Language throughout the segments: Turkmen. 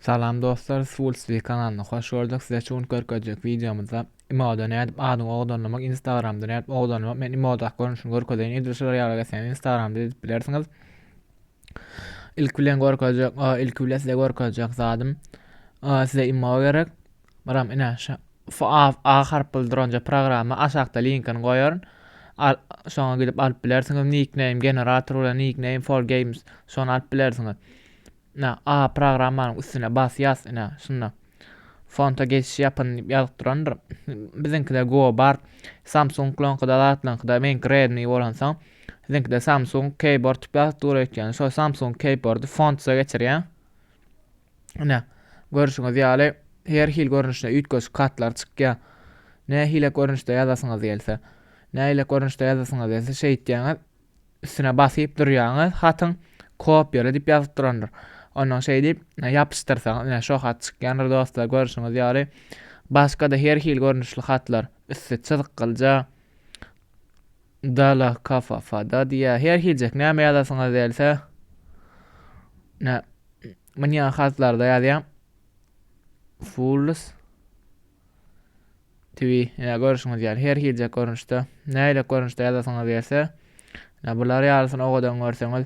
Salam dostlar Swulstv kanalyna hoş gördük size şu gün görkezjek wideomyzda imoda nädip adyňy odanlamak instagramda nädip odanlamak men imodaky görnüşini görkezeýin edil şular ýaly geçseňiz instagramda edip bilersiňiz ilki bilen görkezjek ilki bilen size görkezjek zadym size imo gerek baram ine şu a harp bildir onca programma aşakda linkini goýaryn şoňa gidip alyp bilersiňiz nickname generator bilen nickname for games şony alyp bilersiňiz Ine, A programmanyň üstüne basýas, ine, şunda fonta geçiş ýapyn diýip ýazyp durandyr. Biziňkide Go bar. Samsung-laňkyda zatlaňkyda meňki Redmi bolansoň, siziňkide Samsung Keyboard diýip ýazyp dur öýtýän. Şo Samsung Keyboardy fonta geçirýän. Ine, görşüňiz ýaly her hil görnüşde üýtgeşik hatlar çykýar. Nähili görnüşde ýazasyňyz gelse, nähili görnüşde ýazasyňyz gelse şeýtýäňiz. üstüne basyp durýaňyz hatyň kopýala diýip ýazyp durandyr ondan şeý diýip ýapyşdyrsaňyz ine şo hat çykýandyr dostlar görşüňiz ýaly başga-da her hil görnüşli hatlar üsti çyzykgylja dala kafafada diýýär her hiljek näme ýazasyňyz gelse ne münýa hatlarda ýazýar fulls Twi, ine, görüşiňiz ýaly, her hiljek görnüşde, nähilek görnüşde ýazasyňyz gelse, ine, bular ýalysyny owadan görseňiz,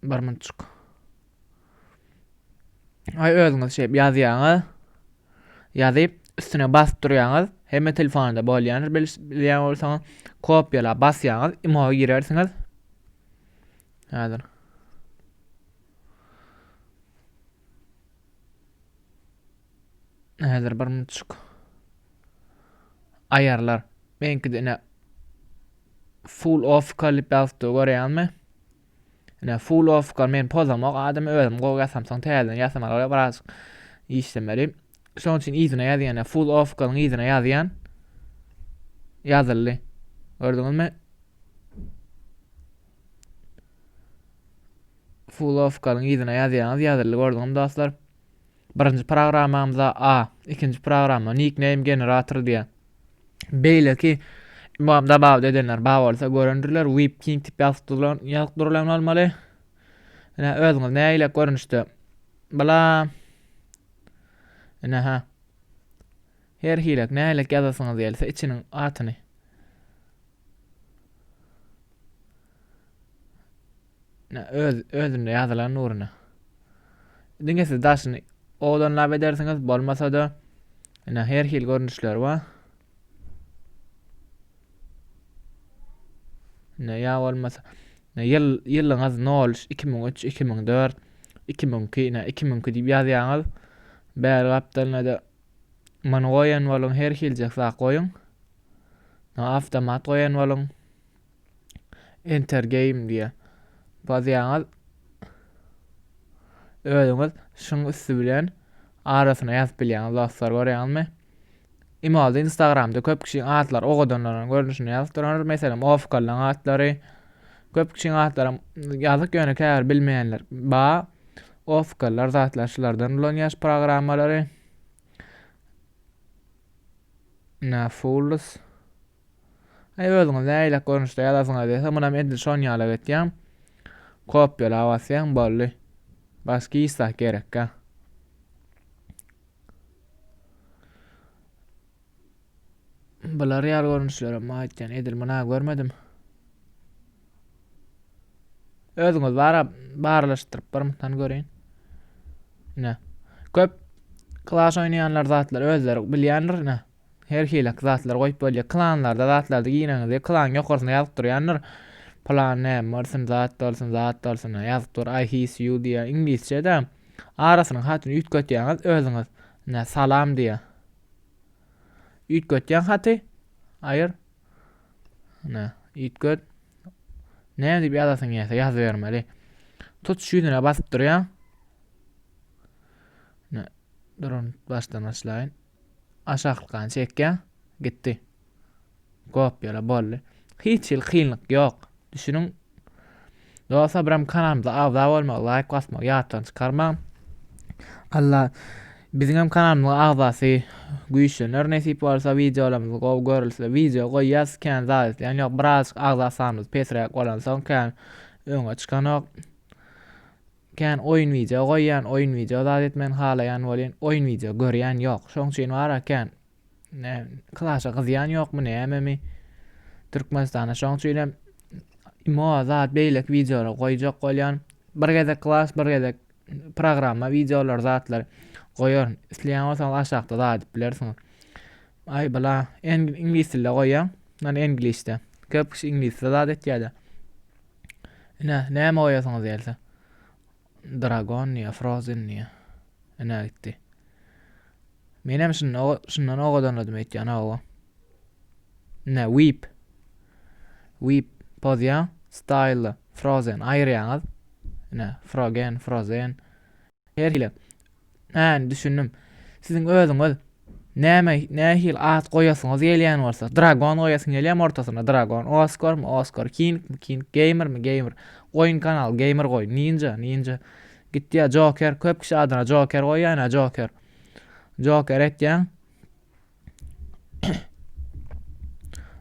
bir minutçuk. Ay özüňiz şey ýazýaňyz. Ýazyp üstüne basyp durýaňyz. Hemme telefonda bolýandyr bilýän bolsaňyz. Kopýala basýaňyz, imo girersiňiz. Häzir. Häzir bir minutçuk ayarlar. Benki de full off kalyp yazıp da görýänmi? Ine full off kal men pozamak adam özüm gowy yasamsan täzeden yasamak ora biraz işlemeli. Şoň üçin yzyna ýazýan, full off kalyň yzyna ýazýan. Ýazyldy. Gördüňizmi? Fulowkalyň yzyna ýazýaňyz ýazyldy gördüňizmi dostlar. Birinji programmamyza A, ikinji programma nickname generator diýýär. Beýleki imam dabaw edenler bar bolsa görendirler, Web King tip ýazyp durulan, ýazyp durulan bolmaly. Ine özüňiz nägile görnüşde. Bula Ine ha. Her hilek nägile ýazasyňyz gelse içiniň atyny. Öz, özünde ýazylan nuruna. Diňe siz daşyny owadanlap edersiňiz, bolmasa-da, ine her hil görnüşleri bar. Ne ya olmasa ne yıl yılınız ne olmuş 2003 2004 2002 ne 2002 diýip ýazýaňyz. Bäri gapdalyna da many goýan boluň, her hiljek zat goýuň. Awtomat goýan boluň. Enter game diýýä. Basýaňyz. Özüňiz şuň üsti bilen arasyna ýazyp bilýäňiz dostlar görýäňizmi? Imolda Instagramda köp kişiň atlary ogadanlaryň görnüşini ýazyp duranlar. Meselem, Ofkallaň atlary. Köp kişiň atlary ýazyk ýöne käbir bilmeýänler. Ba Ofkallar zatlar şulardan ulan ýaş programmalary. Na Fools. Aý özüňiz läýlek görnüşde ýazasyňyz gelse munam edil şonýalak etýäň. Kopýala basýaň boldy. Başga hiç zat gerekkä. Bular ýaly görnüşlerem aýtýan edil muna görmedim. Özüňiz bara barlaşdyryp bir mutan göreýin. Ne. Köp klaş oýnaýanlar zatlar özleri bilýändir ne. Her hilaki zatlar goýup bolýar. Klanlarda zatlarda gireňizde klan ýokarsyna ýazyp durýandyr. Plan näme bolsun zat bolsun zat bolsun ýazyp dur. I his you diýýär iňlisçede. Arasynyň hatyny üýtgetýäňiz özüňiz. Nä salam diýýär. Üýtgetýäň haty. Aýyr. Nä üýtget. Näme diýip ýazasyň gelýär ýazybermeli. Tutuş ýüzüne basyp durýaň. Nä durun başdan başlaýyn. Aşaklykan çekýä gitdi. Gop ýöle boldy. Hiç hili kynlyk ýok. Düşüniň. Dostlar biram kanalymyza agza bolmagy, laýk basmagy ýatdan çykarmaň. Allah biziň hem kanalymyzyň agzasy güýçlener nesip bolsa wideolarymyz gowy görülse wideo goýýas kän zat isleýän ýok biraz agza sanymyz pesräk bolansoň kän öňe çykanok. Kän oýun wideo goýýan oýun wideo zat etmegini halaýan bolýan oýun wideo görýän ýok şoň üçin bara kän klasha gyzýan ýokmy nämemi Türkmenistana şoň üçinem imo zat beýleki wideolar goýjak bolýan bir gezek klas bir gezek programma wideolar zatlar goýaryn isleýän bolsaňyz aşakda zat edip bilersiňiz aý bla iňlis dilde goýýan ýöne iňlisde köp kişi iňlisde zat etýärde Ine, näme goýasyňyz gelse. Dragon diýýär, Frozen diýýär. Ine gitdi. Menem şunda şundan ogadanladym öýtýän hawa. Ine Weep. Weep pozýa, Style, Frozen aýyrýaňyz. Ine Frogen, Frozen. Her hili. Hany, düşündim. Siziň özüňiz näme nähili at goýasyňyz gelýän bolsa, Dragon goýasyň gelýär ortasyna Dragon, Oscar mı Oscar, King mi King, Gamer mi Gamer. Goýun kanal Gamer goý, Ninja, Ninja. Gitýär Joker, köp kişi adyna Joker goýýan ha Joker. Joker etýän.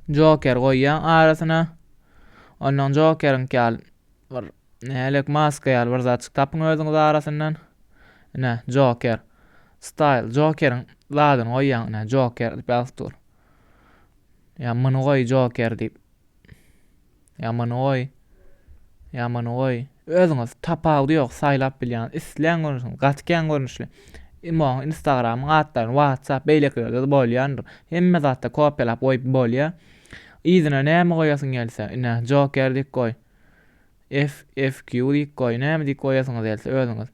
Joker goýýan arasyna. Ondan Jokerin kal bir Nälik maska ýaly bir zatjyk tapyň özüňiz arasyndan. Ine, Joker. Style, Jokeriň zadyny goýýaň, ine, Joker diýip ýazyp dur. Ýa muny goý, Joker diýip. Ýa muny goý. Ýa muny goý. Özüňiz tapawudy ýok, saýlap bilýäňiz. Isleýän görnüşiňiz, gaty kän görnüşli. Imoň, Instagramyň atlaryny, WhatsApp, beýlekilerde-de bolýandyr. Hemme zatda kopýalap goýup bolýar. Yzyna näme goýasyň gelse, ine, Joker diýip goý. F F Q diýip goý. Näme diýip goýasyňyz gelse özüňiz.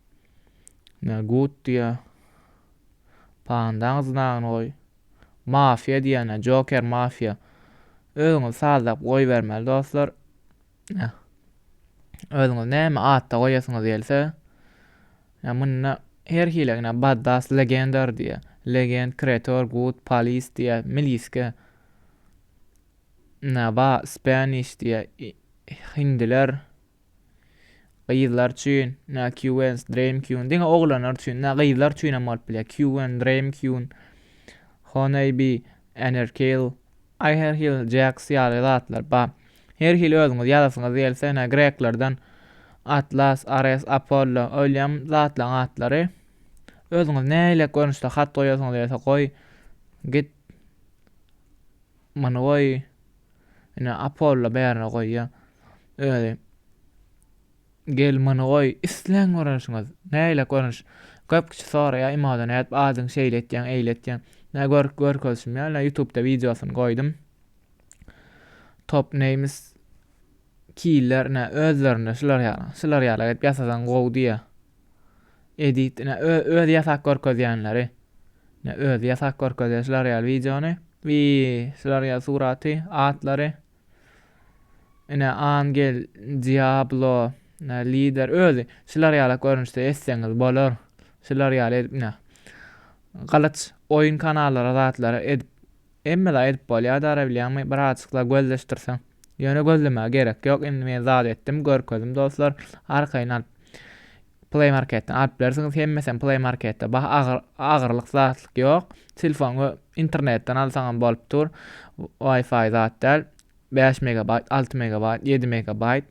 Näme gut diýä. Pandaň znagyny goý. Mafia diýýänä Joker mafia. Özüňiz sazlap goýbermeli dostlar. Näh. Özüňiz näme atda goýasyňyz gelse. Näh munda her hili ýa baddas legendar diýä. Legend kreator gut polis diýä miliske. Naba, Spanish, diýýär, hindiler, gyzlar üçin, na Queens, Dream Queen, diňe oglanlar üçin, na gyzlar üçin hem bolup bilýär, Queen, Dream Queen, Honeybee, Enerkill, Aherhill, Jax ýaly zatlar bar. Her hili özüňiz ýazasyňyz gelse, ine, greklerden Atlas, Ares, Apollo, Oýlýam zatlaryň atlary. Özüňiz nähili görnüşde hat goýasyňyz gelse goý, git Muny goý, ine, Apolla bärde goýýa. Özi, Gel, muny goý, isleň görnüşiňiz. Nähili görnüş? Köp kişi soraýa, Imoda nädip adyňy şeýle etýäň, eýle etýäň? Nä gör, görkezişim ýa, ine, Ýutubda wideosyny goýdum. Top Names Killer, ine, özlerinde şular ýaly. Şular ýaly edip ýasasaň gowy diýýä. Edit ine özi ýasak görkezýänleri. Ne özi ýasak görkezýär şular ýaly wideony. Wi şular ýaly suraty, atlary. Ine Angel, Diablo, ne lider özi şular ýaly görnüşde etseňiz bolar. Şular ýaly edip ine. Galyç oýun kanallara zatlara edip Hemmede aýdyp bolýar dara bilýäňmi birazjykla gözleşdirseň. Ýöne gözlemäge gerek ýok indi men zat etdim görkezdim dostlar arkaýyn alyp Play marketden alyp bilersiňiz hemmesem Play marketde bah agyr agyrlyk zatlyk ýok telefony internetden alsaňam bolup dur wifi zat däl bäş megabaýt alty megabaýt ýedi megabaýt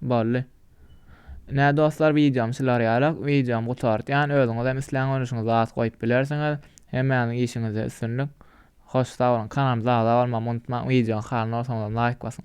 Boldy. Nä dostlar wideom şular ýaly wideom gutartýan özüňizem isleň görnüşiňi zat goýup bilersiňiz. Hemmäňiziň işiňizde üstünlik. Hoş sag boluň kanalymyza agza bolmagy unutmaň wideoň halyny bolsaňyzam laýk basyň.